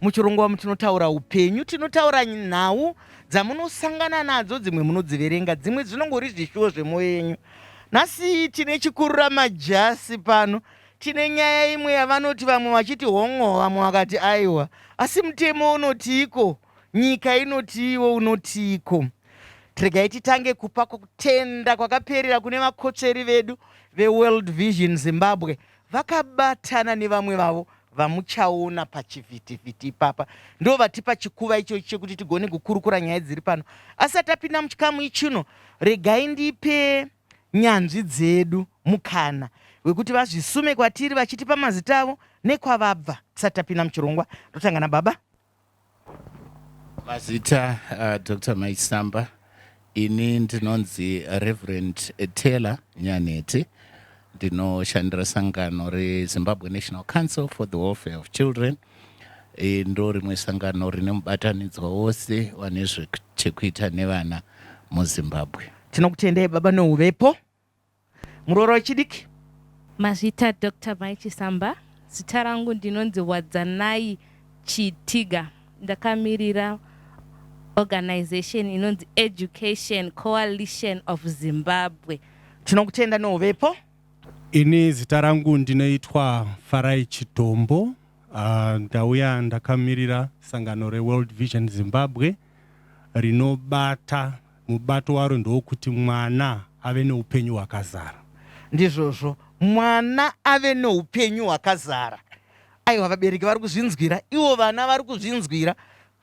Muchirungu wamu tinotaura upenyu, tinotaura nhau dzamunosangana nadzo, dzimwe munodziverenga, dzimwe dzinongori zvishuwo zvemoyo yenyu. Nhasi tine chikurura majasi pano, tine nyaya imwe yavanoti vamwe vachiti hongo, vamwe vakati aiwa, asi mutemo unotiiko? Nyika inotiiwo unotiiko? Regai titange kupa kutenda kwakaperera kune vakotsveri vedu veWorld Vision Zimbabwe vakabatana nevamwe vavo vamuchaona pachivhitivhiti ipapa ndo vatipa chikuva ichochi chekuti tigone kukurukura nyaya dziri pano asati apinda muchikamu ichino regai ndipe nyanzvi dzedu mukana wekuti vazvisume kwatiri vachitipa mazita avo nekwavabva tisati tapinda muchirongwa ndotanga nababa Mazita uh, Dr. Maisamba ini ndinonzi Reverend Taylor Nyaneti ndinoshandira sangano reZimbabwe National Council for the Welfare of Children e, ndo rimwe sangano rine mubatanidzwa wose wane zvechekuita nevana muZimbabwe. Tinokutendai baba nouvepo. Muroora wechidiki. Mazvita doctor mai Chisamba. Zita rangu ndinonzi Wadzanai Chitiga. Ndakamirira organization inonzi Education Coalition of Zimbabwe. Tinokutenda neuvepo. Ini zita rangu ndinoitwa Farai Chidombo. Uh, ndauya ndakamirira sangano reWorld Vision Zimbabwe rinobata Mubato waro ndewokuti mwana ave neupenyu hwakazara. Ndizvozvo. Mwana ave neupenyu hwakazara. Aiwa, vabereki vari kuzvinzwira, ivo vana vari kuzvinzwira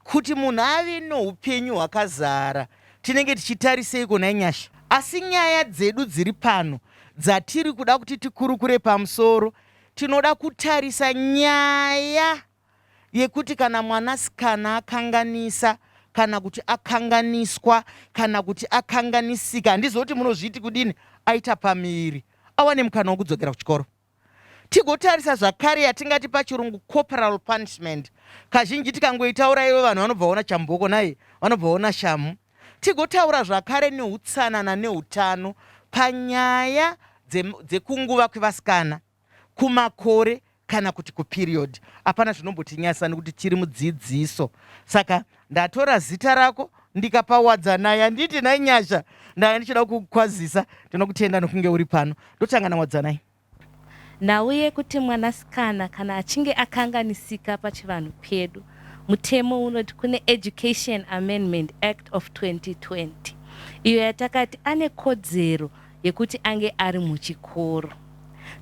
kuti munhu ave neupenyu hwakazara. Tinenge tichitariseiko nhai Nyasha? Asi nyaya dzedu dziri pano dzatiri kuda kuti tikurukure pamusoro, tinoda kutarisa nyaya. yekuti kana mwanasikana akanganisa kana kuti akanganiswa kana kuti akanganisika handiziva kuti munozviti kudini aita pamiviri awane mukana wokudzokera kuchikoro tigotarisa zvakare yatingati pachirungu corporal punishment kazhinji tikangoitaura ivo vanhu vanobva vaona chamboko naye vanobva vaona shamu tigotaura zvakare neutsanana neutano panyaya dzekunguva kwevasikana kumakore kana kuti kuperiod hapana zvinombotinyasa nekuti tiri mudzidziso saka ndatora zita rako ndikapa wadzanai handiti nhai nyasha ndanga ndichida kukwazisa ndinokutenda nokunge uri pano ndotanga nawadzanai nhau yekuti mwanasikana kana achinge akanganisika pachivanhu pedu mutemo unoti kune education amendment act of 2020 iyo yatakati ane kodzero yekuti ange ari muchikoro.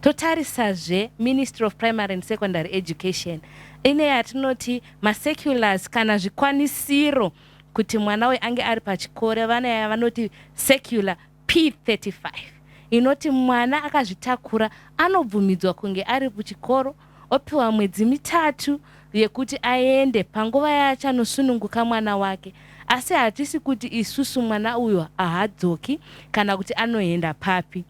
Totarisazve Ministry of Primary and Secondary Education ine yatinoti macirculars kana zvikwanisiro kuti mwana uyu ange ari pachikoro vana yavanoti circular P35 inoti mwana akazvitakura anobvumidzwa kunge ari kuchikoro opiwa mwedzi mitatu yekuti aende panguva yaachanosununguka mwana wake asi hatisi kuti isusu mwana uyo ahadzoki kana kuti anoenda papi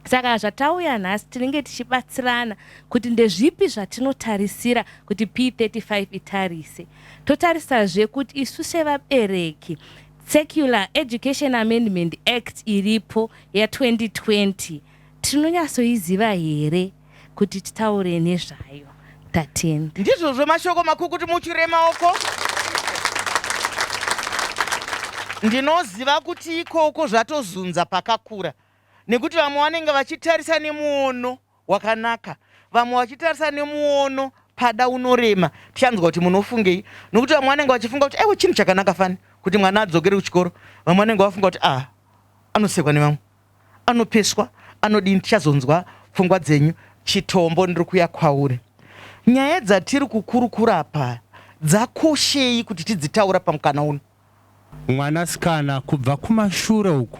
saka zvatauya nhasi tinenge tichibatsirana kuti ndezvipi zvatinotarisira kuti p35 itarise totarisazve kuti isu sevabereki secular education amendment act iripo ya2020 Tinonyatsoiziva here kuti titaure nezvayo? 13. Ndizvozvo mashoko makuru kuti mutyure maoko. Ndinoziva kuti ikoko zvatozunza pakakura nekuti vamwe vanenge vachitarisa nemuono wakanaka vamwe vachitarisa nemuono pada unorema tichanzwa kuti munofungei nokuti vamwe vanenge vachifunga kuti aiwa chinhu chakanaka fani kuti mwana adzokere kuchikoro vamwe vanenge vafunga kuti a ah, anosekwa nevamwe anopeswa anodii ndichazonzwa pfungwa dzenyu. Chitombo ndiri kuya kwauri. Nyaya dzatiri kukurukura apa dzakoshei kuti tidzitaura pamukana uno? Mwanasikana kubva kumashure uku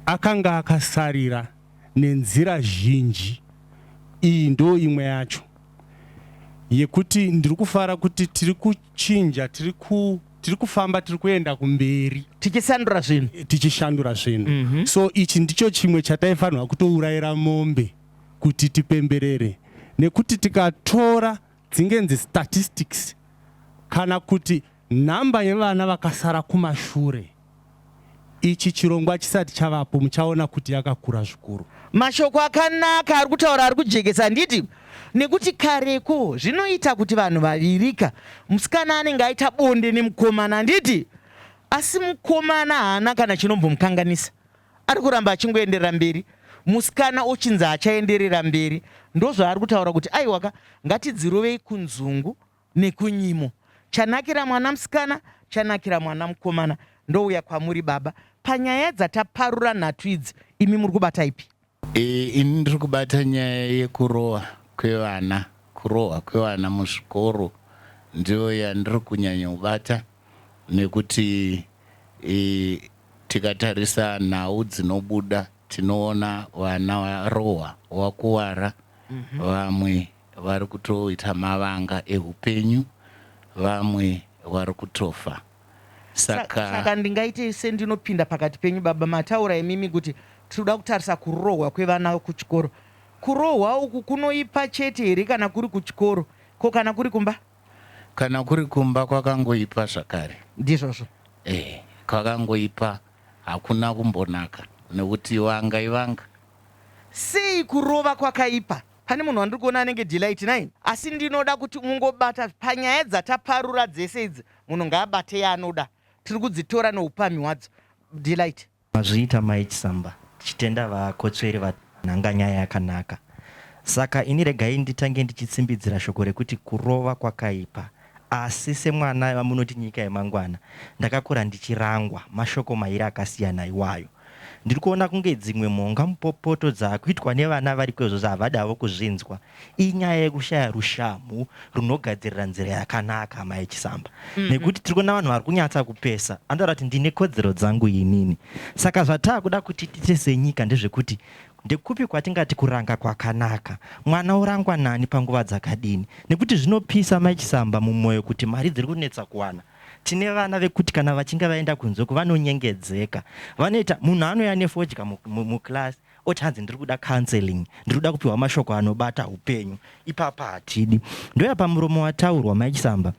akanga akasarira nenzira zhinji. Iyi ndoo imwe yacho yekuti ndiri kufara kuti tiri kuchinja tiri ku. tiri kufamba tiri kuenda kumberi tichisandura zvinhu eh, tichishandura zvinhu mm -hmm. so ichi ndicho chimwe chataifanirwa kutourayira mombe kuti tipemberere nekuti tikatora dzingenzi statistics kana kuti nhamba yevana vakasara kumashure Ichi chirongwa chisati chavapo muchaona kuti yakakura zvikuru. Mashoko akanaka ari kutaura ari kujekesa handiti? Nekuti kareko zvinoita kuti vanhu vavirika musikana anenge aita bonde nemukomana handiti? Asi mukomana haana kana chinombomukanganisa. Ari kuramba achingoenderera mberi musikana ochinzi achaenderera mberi. Ndozvaari kutaura kuti aiwaka ngatidzirovei kunzungu nekunyimo chanakira mwana musikana chanakira mwana mukomana ndouya kwamuri baba panyaya dzataparura nhatu idzi imi muri kubata ipi e, ini ndiri kubata nyaya yekurowa kwevana kurohwa kwevana muzvikoro ndiyo yandiri kunyanya kubata nekuti e, tikatarisa nhau dzinobuda tinoona vana varohwa wakuvara mm -hmm. vamwe vari kutoita mavanga ehupenyu vamwe vari kutofa saka. Saka ndingaitei sendinopinda pakati penyu baba mataura imimi kuti tirikuda kutarisa kurohwa kwevana kuchikoro kurohwa uku kunoipa chete here kana kuri kuchikoro ko kana kuri kumba. Kana kuri kumba kwakangoipa zvakare. Ndizvozvo. Ehe kwakangoipa hakuna kumbonaka nekuti vanga ivanga. Sei kurova kwakaipa. Pane munhu wandiri kuona anenge Delight nai asi ndinoda kuti mungobata panyaya dzataparura dzese idzi munhu ngaabate yaanoda tiri kudzitora neupamhi wadzo Delight. Mazviita mai Chisamba tichitenda vakotsveri vanhanga nyaya yakanaka saka ini regai nditange ndichitsimbidzira shoko rekuti kurova kwakaipa Asi semwana vamunoti nyika yemangwana, ndakakura ndichirangwa mashoko mairi akasiyana iwayo. Ndiri kuona kunge dzimwe mhonga mupopoto dzakuitwa nevana variko izvozvi havadi havo kuzvinzwa inyaya yekushaya rushamhu runogadzirira nzira yakanaka amai Chisamba nekuti tiri kuona vanhu vari kunyatsa kupesa anotaura kuti ndine kodzero dzangu inini. Saka zvataakuda kuti tiite senyika ndezvekuti Ndekupi kwatingati kuranga kwakanaka? Mwana orangwa nani panguva dzakadini? Nekuti zvinopisa mai Chisamba mumoyo kuti mari dziri kunetsa kuwana. Tine vana vekuti kana vachinge vaenda kunze uko vanonyengedzeka. Vanoita munhu anouya nefodya mu, mu, muclass oti hanzi ndiri kuda counseling, ndiri kuda kupiwa mashoko anobata upenyu. Ipapa hatidi. Ndoya pamuromo wataurwa mai Chisamba.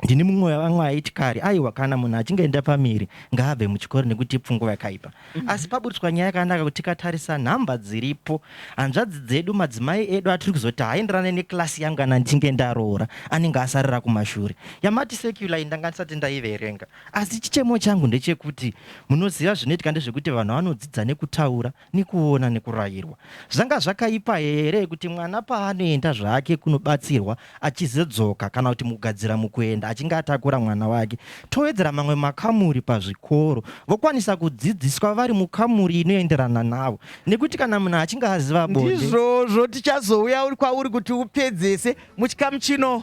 Ndini mumwe wevamwe aiti kare aiwa kana munhu achinge enda pamiri ngaabve muchikoro nekuti ipfungwa yakaipa. Mhm. Asi paburitswa nyaya yakanaka kuti tikatarisa nhamba dziripo hanzvadzi dzedu madzimai edu atiri kuzoti haaenderane nekilasi yangu kana ndichinge ndaroora anenge asarira kumashure. Yamati secular iyi ndanga ndisati ndaiverenga asi chichemo changu ndechekuti munoziva zvinoitika ndezvekuti vanhu vanodzidza nekutaura nekuona nekurayirwa. Zvanga zvakaipa here kuti mwana paanoenda zvake kunobatsirwa achizodzoka kana kuti mukugadzira mukuenda achinge atakura mwana wake? Towedzera mamwe makamuri pazvikoro. Vokwanisa kudzidziswa vari mukamuri inoenderana navo nekuti kana munhu achinge aziva bonde. Ndizvozvo tichazouya kwauri kuti upedzese muchikamu chino.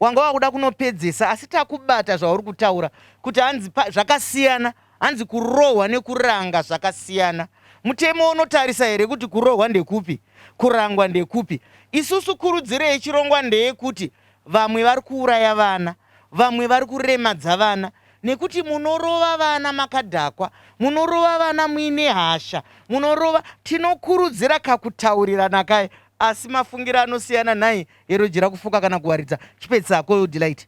wanga wakuda kunopedzesa asi takubata zvauri kutaura kuti hanzi zvakasiyana hanzi kurohwa nekuranga zvakasiyana mutemo unotarisa here kuti kurohwa ndekupi kurangwa ndekupi isusu kurudziro yechirongwa ndeyekuti vamwe vari kuuraya vana vamwe vari kuremadza vana nekuti munorova vana makadhakwa munorova vana muine hasha munorova tinokurudzira kakutaurirana kaye asi mafungiro anosiyana nhai Eroji rakufuka kana kuwaridza chipetsa akoyo delight.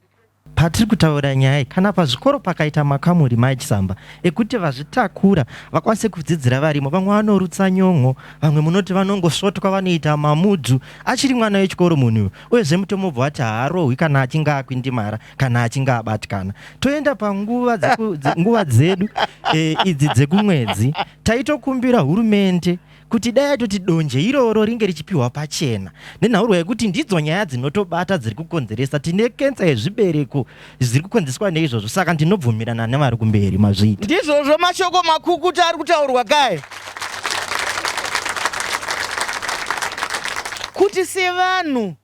Patiri kutaura nyaya iyi, kana pazvikoro pakaita makamuri maichisamba ekuti vazvitakura vakwanise kudzidzira varimo, vamwe vanorutsa nyon'o, vamwe munoti vanongosvotwa vanoita mamudzu achiri mwana wechikoro munhu uyu, uyezve mutomobva wati haarohwi kana achinge akwindimara kana achinge abatikana. Toenda panguva dzeku, dze, nguva dzedu e, idzi dzekumwedzi, taitokumbira hurumende kuti dai atoti donje iroro ringe richipiwa pachena nenhaurwa yekuti ndidzo nyaya dzinotobata dziri kukonzeresa tine kensa yezvibereko zviri kukonzeswa neizvozvo saka ndinobvumirana nevari kumberi mazviita ndizvozvo mashoko makukuta ari kutaurwa kae kuti sevanhu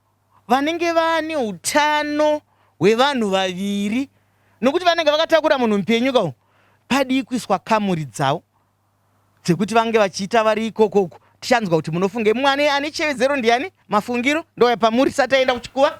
vanenge vane utano hwevanhu vaviri nokuti vanenge vakatakura munhu mupenyu ka padii kuiswa kamuri dzavo dzekuti vange vachiita vari ikoko uku tichanzwa kuti munofunge mwani ane chevedzero ndiani mafungiro ndoya pamuri sati aenda kuchikuva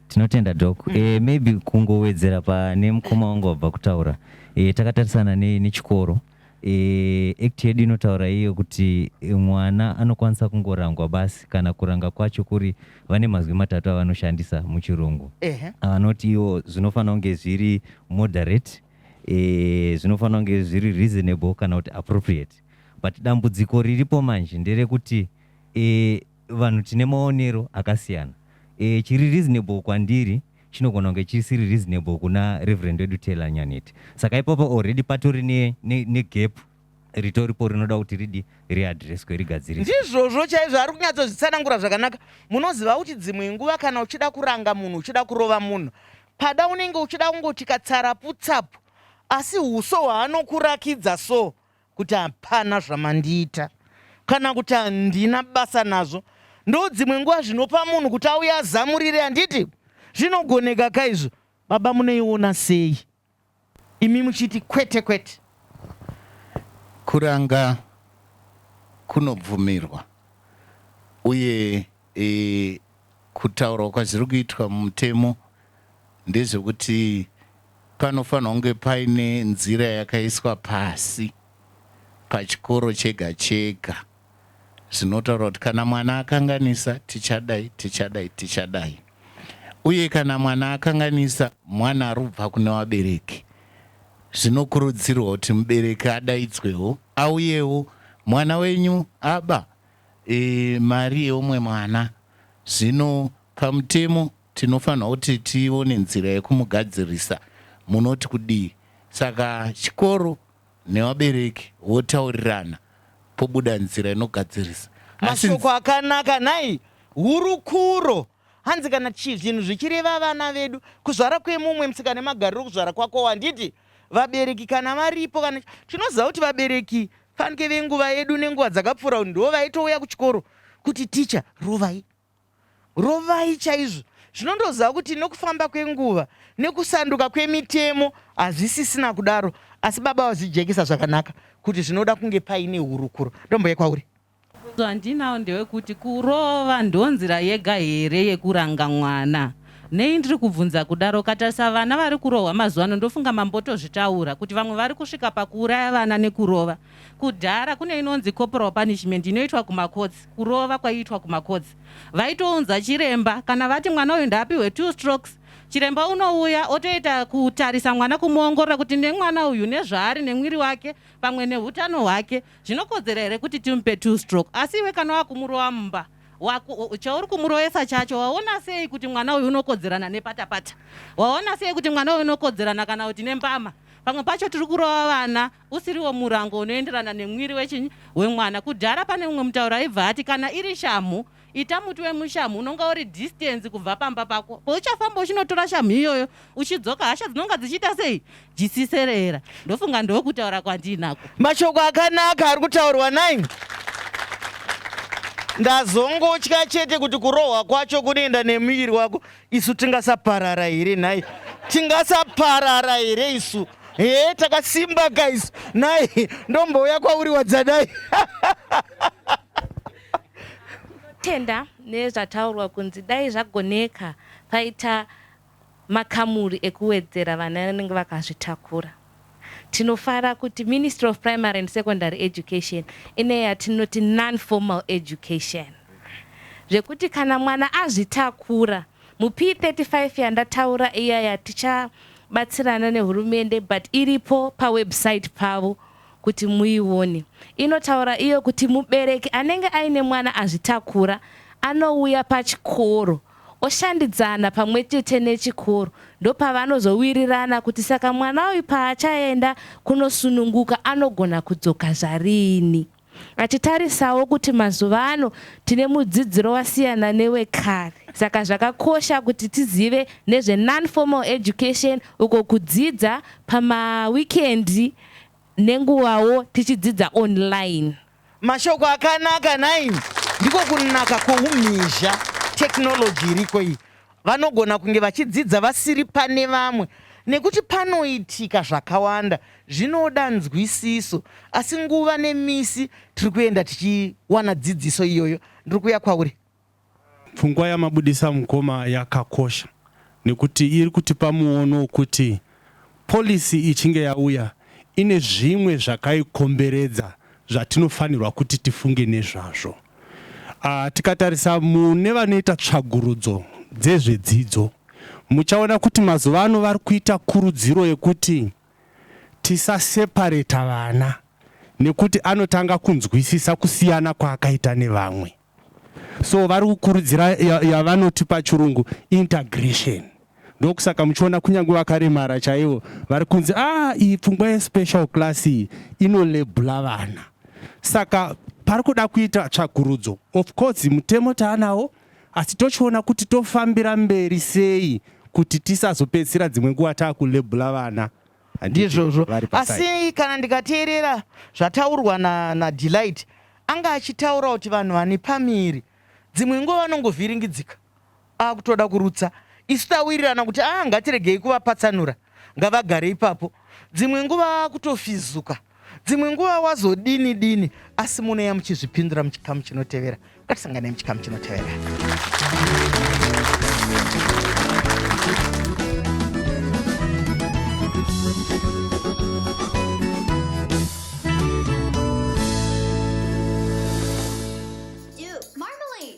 tinotenda dok mm. e, maybe kungowedzera pane mukoma wangu wabva kutaura e, takatarisana nechikoro ne e, act yedu inotaura iyo kuti eh, mwana anokwanisa kungorangwa basi kana kuranga kwacho kuri vane mazwi matatu avanoshandisa muchirungu avanoti iwo zvinofanira kunge zviri moderate e, zvinofanira kunge zviri reasonable kana kuti appropriate but dambudziko riripo manje nderekuti e, vanhu tine maonero akasiyana e, chiri reasonable kwandiri chinogona kunge chisiri reasonable kuna reverend wedu taylor nyaneti saka ipapo already patori negap ne, ne ritoripo rinoda kuti ridi riadreswe rigadziriswe ndizvozvo chaizvo ari kunyatsozvitsanangura zvakanaka munoziva kuti dzimwe nguva kana uchida kuranga munhu uchida kurova munhu Pada unenge uchida kungoti katsaraputsapu asi uso hwaanokurakidza so kuti hapana zvamandiita kana kuti handina basa nazvo ndo dzimwe nguva zvinopa munhu kuti auye azamurire handiti zvinogoneka ka izvo baba munoiona sei Imi muchiti kwete kwete. Kuranga kunobvumirwa uye e, kutaurwa kwazviri kuitwa mumutemo ndezvekuti panofanirwa kunge paine nzira yakaiswa pasi pachikoro chega chega zvinotaura kuti kana mwana akanganisa tichadai tichadai tichadai uye kana mwana akanganisa mwana arubva kune vabereki zvinokurudzirwa kuti mubereki adaidzwewo auyewo mwana wenyu aba e, mari yeumwe mwana zvino pamutemo tinofanirwa kuti tione nzira yekumugadzirisa munoti kudii saka chikoro nevabereki votaurirana pobuda nzira inogadzirisa. Asi Mashoko nzi- akanaka nhai hurukuro. Hanzi kana chi, zvinhu zvichireva vana vedu, kuzvara kwemumwe mtsika nemagariro okuzvara kwakowo handiti vabereki kana varipo kana chi- tinoziva kuti vabereki fanike venguva yedu nenguva dzakapfuura ndivo vaitouya kuchikoro kuti ticha rovai Rovai chaizvo. Zvino ndoziva kuti nokufamba kwenguva nekusanduka kwemitemo hazvisisina kudaro asi baba vazvijekesa zvakanaka kuti zvinoda kunge paine hurukuro. Ndombouya kwauri. Mubvunzo wandinawo ndewekuti kurova ndonzira yega here yekuranga mwana? Nei ndiri kubvunza kudaro? Ukatarisa vana vari kurohwa mazuva ano ndofunga mambotozvitaura kuti vamwe vari kusvika pakuuraya vana nekurova. Kudhara kune inonzi corporal punishment inoitwa kumacourts, kurova kwaiitwa kumacourts. Vaitounza chiremba kana vati mwana uyu ndaapihwe two strokes, chiremba unouya otoita kutarisa mwana kumuongorora kuti nemwana uyu nezvaari nemwiri wake pamwe nehutano hwake zvinokodzera here kuti timupe two stroke. Asi iwe kana wakumurova mumba wako chauri kumuroesa chacho waona sei kuti mwana uyu unokodzerana nepatapata? Waona sei kuti mwana uyu unokodzerana kana kuti nembama? Pamwe pacho tiri kurova vana usiriwo murango unoenderana nemwiri wechinyi wemwana kudhara pane mumwe mutauro aibva ati kana iri shamhu ita muti wemushamhu unonga uri distance kubva pamba pako pouchafamba uchinotora shamhu iyoyo uchidzoka hasha dzinonga dzichiita sei jisiserera ndofunga ndokutaura kwandiinako mashoko akanaka ari kutaurwa nine ndazongotya chete kuti kurohwa kwacho kunoenda nemuviri wako isu tingasaparara here nhai tingasaparara here isu hee takasimba guys nhai ndombouya kwauri wadzadai tenda nezvataurwa kunzi dai zvagoneka paita makamuri ekuwedzera vana vanenge vakazvitakura Tinofara kuti Ministry of Primary and Secondary Education ine yatinoti non-formal education zvekuti kana mwana azvitakura mup 35 yandataura iya yatichabatsirana nehurumende but iripo pawebsite pavo kuti muione inotaura iyo kuti mubereki anenge aine mwana azvitakura anouya pachikoro oshandidzana pamwechete nechikoro ndopavanozowirirana kuti saka mwana uyu paachaenda kunosununguka anogona kudzoka zvarini. Achitarisawo kuti mazuva ano tine mudzidziro wasiyana newekare saka zvakakosha kuti tizive nezve non-formal education uko kudzidza pamawikendi nenguvawo tichidzidza online. Mashoko akanaka nhai ndiko kunaka kwoumhizha technology iriko iyi. Vanogona kunge vachidzidza vasiri pane vamwe nekuti panoitika zvakawanda zvinoda nzwisiso asi nguva nemisi tiri kuenda tichiwana dzidziso iyoyo. Ndiri kuuya kwauri. Pfungwa yamabudisa mukoma yakakosha nekuti iri kutipa muono wekuti policy ichinge yauya ine zvimwe zvakaikomberedza zvatinofanirwa kuti tifunge nezvazvo. Ah, tikatarisa mune vanoita tsvagurudzo dzezvedzidzo muchaona kuti mazuva ano vari kuita kurudziro yekuti tisasepareta vana nekuti anotanga kunzwisisa kusiyana kwaakaita nevamwe. So vari kukurudzira yavanoti ya pachirungu integration. Ndokusaka muchiona kunyange vakaremara chaivo vari kunzi ah iyi pfungwa yespecial class iyi inolebula vana. Saka pari kuda kuita tsvakurudzo. Of course mutemo taanawo asi tochiona kuti tofambira mberi sei kuti tisazopedzisira dzimwe nguva taakulebula vana. ndizvozvo asi kana ndikateerera zvataurwa nadelight na anga achitaura kuti vanhu vane pamiri dzimwe nguva vanongovhiringidzika akutoda kurutsa isu tawirirana kuti a ah, ngatiregei kuvapatsanura ngavagare ipapo dzimwe nguva akutofizuka Dzimwe nguva wazodini dini asi munouya muchizvipindura muchikamu chinotevera. Ngatisanganei muchikamu chinotevera.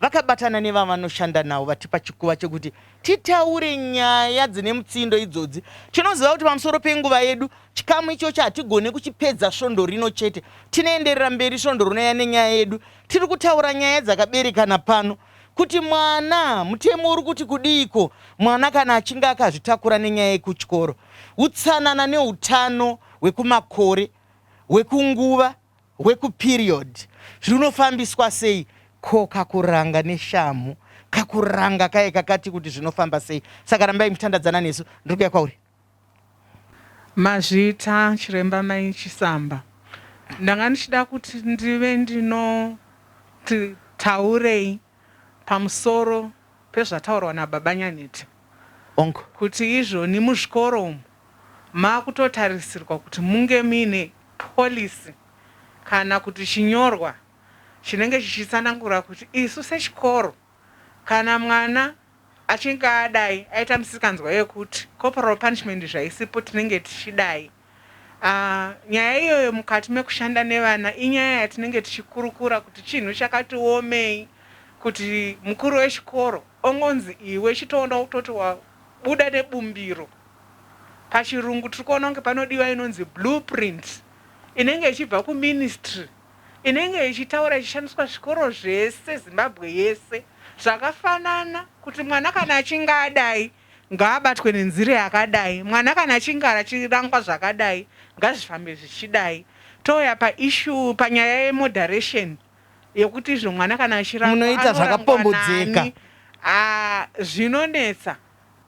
Vakabatana nevavanoshanda navo vatipa chikuva chekuti titaure nyaya dzine mutsindo idzodzi. Tinoziva kuti pamusoro penguva yedu, chikamu ichochi hatigone kuchipedza svondo rino chete. Tinoenderera mberi svondo rinouya nenyaya yedu. Tiri kutaura nyaya dzakaberekana pano kuti mwana, mutemo uri kuti kudiiko mwana kana achinge akazvitakura nenyaya yekuchikoro, utsanana neutano hwekumakore, hwekunguva hwekuperiod zvinofambiswa sei ko kakuranga neshamhu kakuranga kaye kakati kuti zvinofamba sei saka rambai muchitandadzana nesu ndiri kuya kwauri Mazvita chiremba mai Chisamba ndanga ndichida kuti ndive ndinoti taurei. pamusoro pezvataurwa nababa Nyanhete Hongu. kuti izvoni muzvikoro umu makutotarisirwa kuti munge muine policy kana kuti chinyorwa chinenge chichitsanangura kuti isu sechikoro kana mwana Achinge adai aita misikanzwa yekuti corporal punishment zvaisipo tinenge tichidai aah nyaya iyoyo mukati mekushanda nevana inyaya yatinenge tichikurukura kuti chinhu chakati omei kuti mukuru wechikoro ongonzi iwe chitoona kutoti wabuda nebumbiro pachirungu tiri kuona kunge panodiwa inonzi blue print inenge ichibva kuministry inenge ichitaura ichishandiswa zvikoro zvese Zimbabwe yese zvakafanana kuti mwana kana achinge adai ngaabatwe nenzira yakadai, mwana kana achinge achirangwa zvakadai ngazvifambe zvichidai. Touya pa issue panyaya ye moderation yekuti izvo mwana kana achirangwa Munoita anorangwa zvakapombodzeka. nani haa zvinonetsa.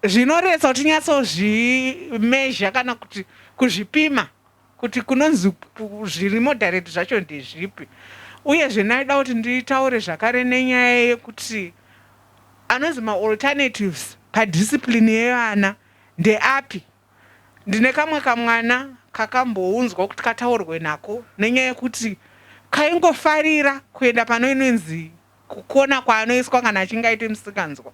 Zvinoretsa kuti tinyatsozvi measure kana kuti kuzvipima. kuti kunonzi zvirimo direct zvacho ndezvipi uyezve ndaida kuti nditaure zvakare nenyaya yekuti anonzi maalternatives padiscipline yevana ndeapi. Ndine kamwe kamwana kakambounzwa kuti kataurwe nako nenyaya yekuti kaingofarira kuenda pano inonzi kukona kwaanoiswa kana achinge aita musikanzwa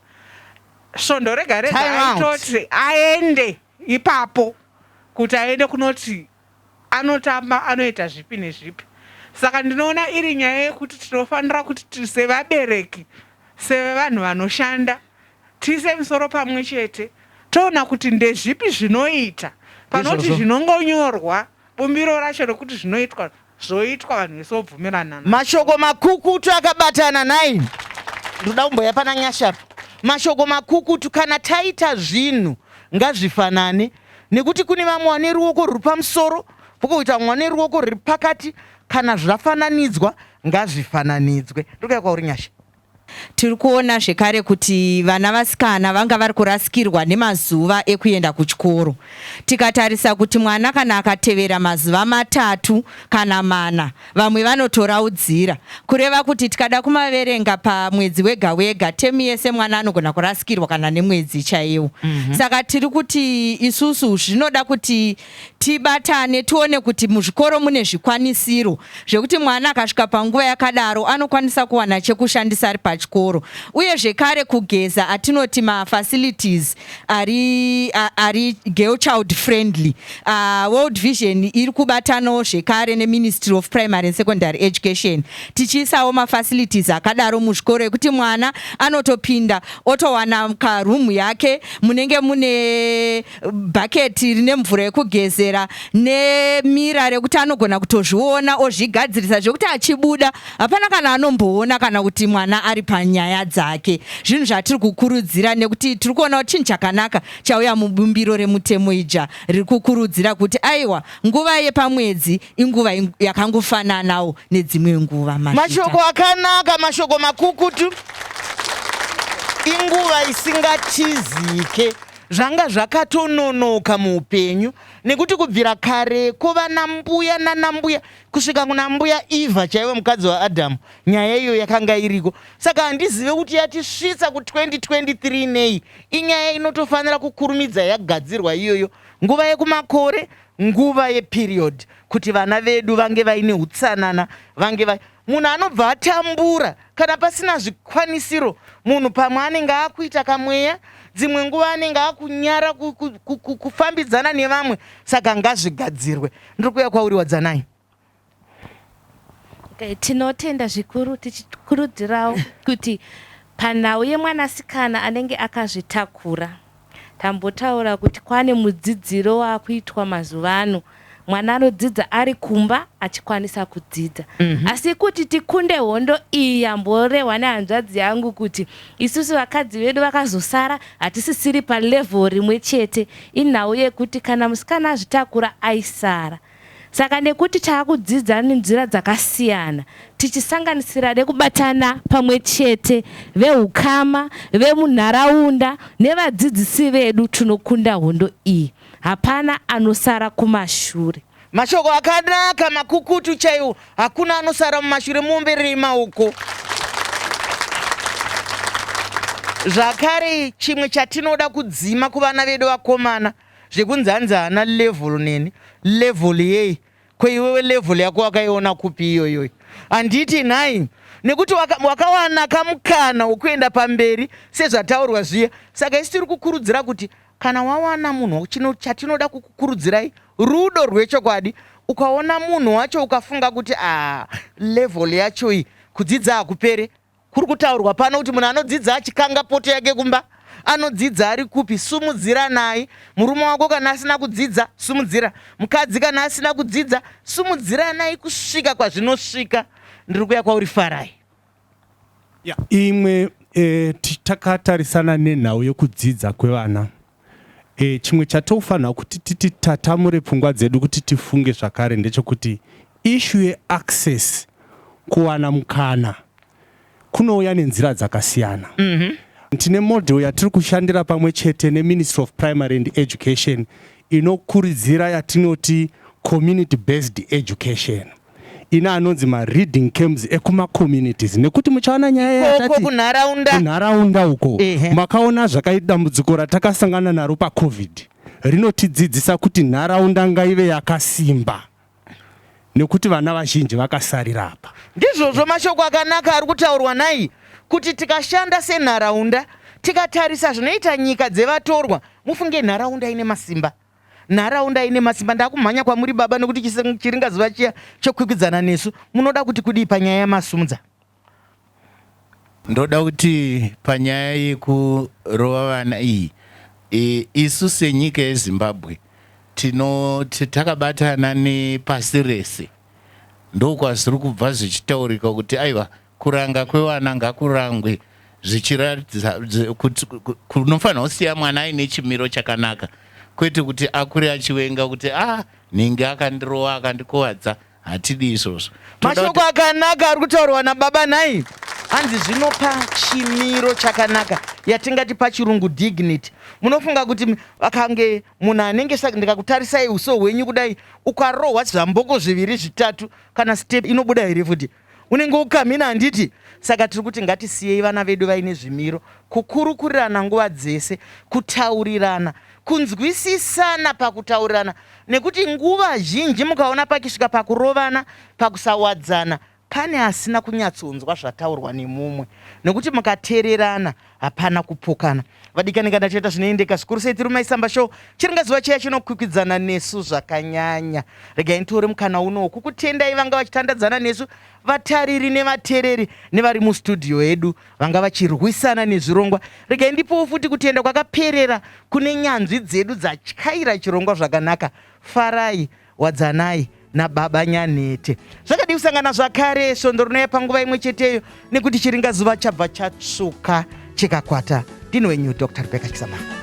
svondo rega rega aitoti aende ipapo kuti aende kunoti anotamba anoita zvipi nezvipi saka ndinoona iri nyaya yekuti tinofanira kuti sevabereki sevanhu vanoshanda tiise misoro pamwe chete toona kuti ndezvipi zvinoita panoti zvinongonyorwa bumbiro racho rekuti zvinoitwa Zvoitwa vanhu vese vobvumirana. Mashoko makukutu akabatana nhai. Ndoda kumboya pana Nyasha apa. Mashoko makukutu kana taita zvinhu ngazvifanane nekuti kune vamwe vane ruoko ruri pamusoro pokoita vamwe vane ruoko ruri pakati kana zvafananidzwa ngazvifananidzwe. Ndokaya kwauri Nyasha. Tiri kuona zvekare kuti vana vasikana vanga vari kurasikirwa nemazuva ekuenda kuchikoro. Tikatarisa kuti mwana kana akatevera mazuva matatu kana mana, vamwe vanotoraudzira. Kureva kuti tikada kumaverenga pamwedzi wega wega, temu yese mwana anogona kurasikirwa kana nemwedzi chaiwo. Saka tiri kuti isusu zvinoda kuti tibatane tione kuti muzvikoro mune zvikwanisiro zvekuti mwana akasvika panguva yakadaro anokwanisa kuwana chekushandisa ari pachikoro uye zvekare kugeza atinoti mafacilities ari, ari girl child friendly uh, world vision iri kubatanawo zvekare neministry of primary and secondary education tichiisawo mafacilities akadaro muzvikoro ekuti mwana anotopinda otowana karoom yake munenge mune bhaketi rine mvura yekugezera nemira rekuti anogona kutozviona ozvigadzirisa zvekuti achibuda hapana kana anomboona kana kuti mwana ari panyaya dzake zvinhu zvatiri kukurudzira nekuti tiri kuona kuti chinhu chakanaka chauya mubumbiro remutemo ija riri kukurudzira kuti aiwa nguva yepamwedzi inguva yakangofananawo nedzimwe nguva mashoko akanaka mashoko makukutu inguva isingatizike Zvanga zvakatononoka muupenyu nekuti kubvira kareko vana mbuya nana mbuya kusvika kuna mbuya Eva chaivo mukadzi waAdam nyaya iyo yakanga iriko saka handizive kuti yatisvitsa ku 2023 nei inyaya inotofanira kukurumidza yagadzirwa iyoyo nguva yekumakore nguva yeperiod kuti vana vedu vange vaine utsanana vange va munhu anobva atambura kana pasina zvikwanisiro munhu pamwe anenge akuita kamweya dzimwe nguva anenge akunyara kufambidzana nevamwe saka ngazvigadzirwe ndiri kuuya kwauri wadzanai okay, tinotenda zvikuru tichikurudzirawo kuti panhau yemwanasikana anenge akazvitakura Tambotaura kuti kwane mudzidziro wakuitwa mazuva ano mwana anodzidza ari kumba achikwanisa kudzidza mm -hmm. asi kuti tikunde hondo iyi yamborehwa nehanzvadzi yangu kuti isusu vakadzi vedu vakazosara hatisisiri palevel rimwe chete inhau yekuti kana musikana azvitakura aisara Saka nekuti taakudzidza nzira dzakasiyana tichisanganisira nekubatana pamwe chete vehukama, vemunharaunda nevadzidzisi vedu tinokunda hondo iyi. Hapana anosara kumashure. Mashoko akanaka makukutu chaiwo. Hakuna anosara mumashure mumbirima uko. Zvakare chimwe chatinoda kudzima kuvana vedu vakomana Zvekunzi hanzi haana level neni level yei ko iwewe level yako wakaiona kupi iyoyoyi handiti nhai nekuti waka, wakawana kamukana wokuenda pamberi sezvataurwa zviya saka isi tiri kukurudzira kuti kana wawana munhu chatinoda kukukurudzirai rudo rwechokwadi ukaona munhu wacho ukafunga kuti a ah, level yacho iyi kudzidza hakupere Kuri kutaurwa pano kuti munhu anodzidza achikanga poto yake kumba anodzidza ari kupi sumudziranai murume wako kana asina kudzidza sumudzira mukadzi kana asina kudzidza sumudziranai kusvika kwazvinosvika ndiri kuya kwauri farai yeah. imwe e, takatarisana nenhau yekudzidza kwevana E, chimwe chatofanirwa kuti titatamure pfungwa dzedu kuti tifunge zvakare ndechokuti ishu yeaccess kuwana mukana kunouya nenzira dzakasiyana mm -hmm. tine model yatiri kushandira pamwe chete neministry of primary and education inokuridzira yatinoti community based education ine anonzi mareading camps ekumacommunities nekuti muchaona nyaya yatati kunharaunda uko makaona zvakaita dambudziko ratakasangana naro pacovid rinotidzidzisa kuti nharaunda ngaive yakasimba nekuti vana vazhinji vakasarira apa ndizvozvo mashoko akanaka ari kutaurwa nai kuti tikashanda senharaunda tikatarisa zvinoita nyika dzevatorwa mufunge nharaunda ine masimba nharaunda ine masimba ndakumhanya kwamuri baba nekuti chiringazuva chiya chokwikwidzana nesu munoda kuti kudii panyaya yamasumudza ndoda kuti panyaya yekurova vana iyi e, isu senyika yezimbabwe tino takabatana nepasi rese ndokwazviri kubva zvichitaurika kuti aiwa Kuranga kwevana ngakurangwe zvichiratidza kuti kunofanirwa kusiya mwana aine chimiro chakanaka kwete kuti akure achivenga kuti a ah, nhingi akandirova akandikuvadza hatidi izvozvo mashoko akanaka ari kutaurwa nababa nhai hanzi zvinopa chimiro chakanaka yatingati pachirungu dignity munofunga kuti akange munhu anenge ndikakutarisai uso hwenyu kudai ukarohwa zvamboko zviviri zvitatu kana step inobuda here futi unenge ukamina handiti saka tiri kuti ngatisiyei vana vedu vaine zvimiro kukurukurirana nguva dzese kutaurirana kunzwisisana pakutaurirana nekuti nguva zhinji mukaona pakisvika pakurovana pakusawadzana pane asina kunyatsonzwa zvataurwa nemumwe nekuti mukatererana hapana kupokana vadikani kana tichaita zvinoendeka zvikuru sei tiri maisamba show chiringa zuva chiya chinokwikwidzana nesu zvakanyanya regai nitore mukana unowo kukutendai vanga vachitandadzana nesu vatariri nevatereri nevari mustudio edu vanga vachirwisana nezvirongwa regai ndipowo futi kutenda kwakaperera kune nyanzvi dzedu dzatyaira chirongwa zvakanaka farai Wadzanai nababa Nyanhete. Zvakadii kusangana zvakare svondo rinouya panguva imwe cheteyo nekuti chiringazuva chabva chatsvuka chikakwata. Ndini wenyu Dr. Rebecca Chisamanga.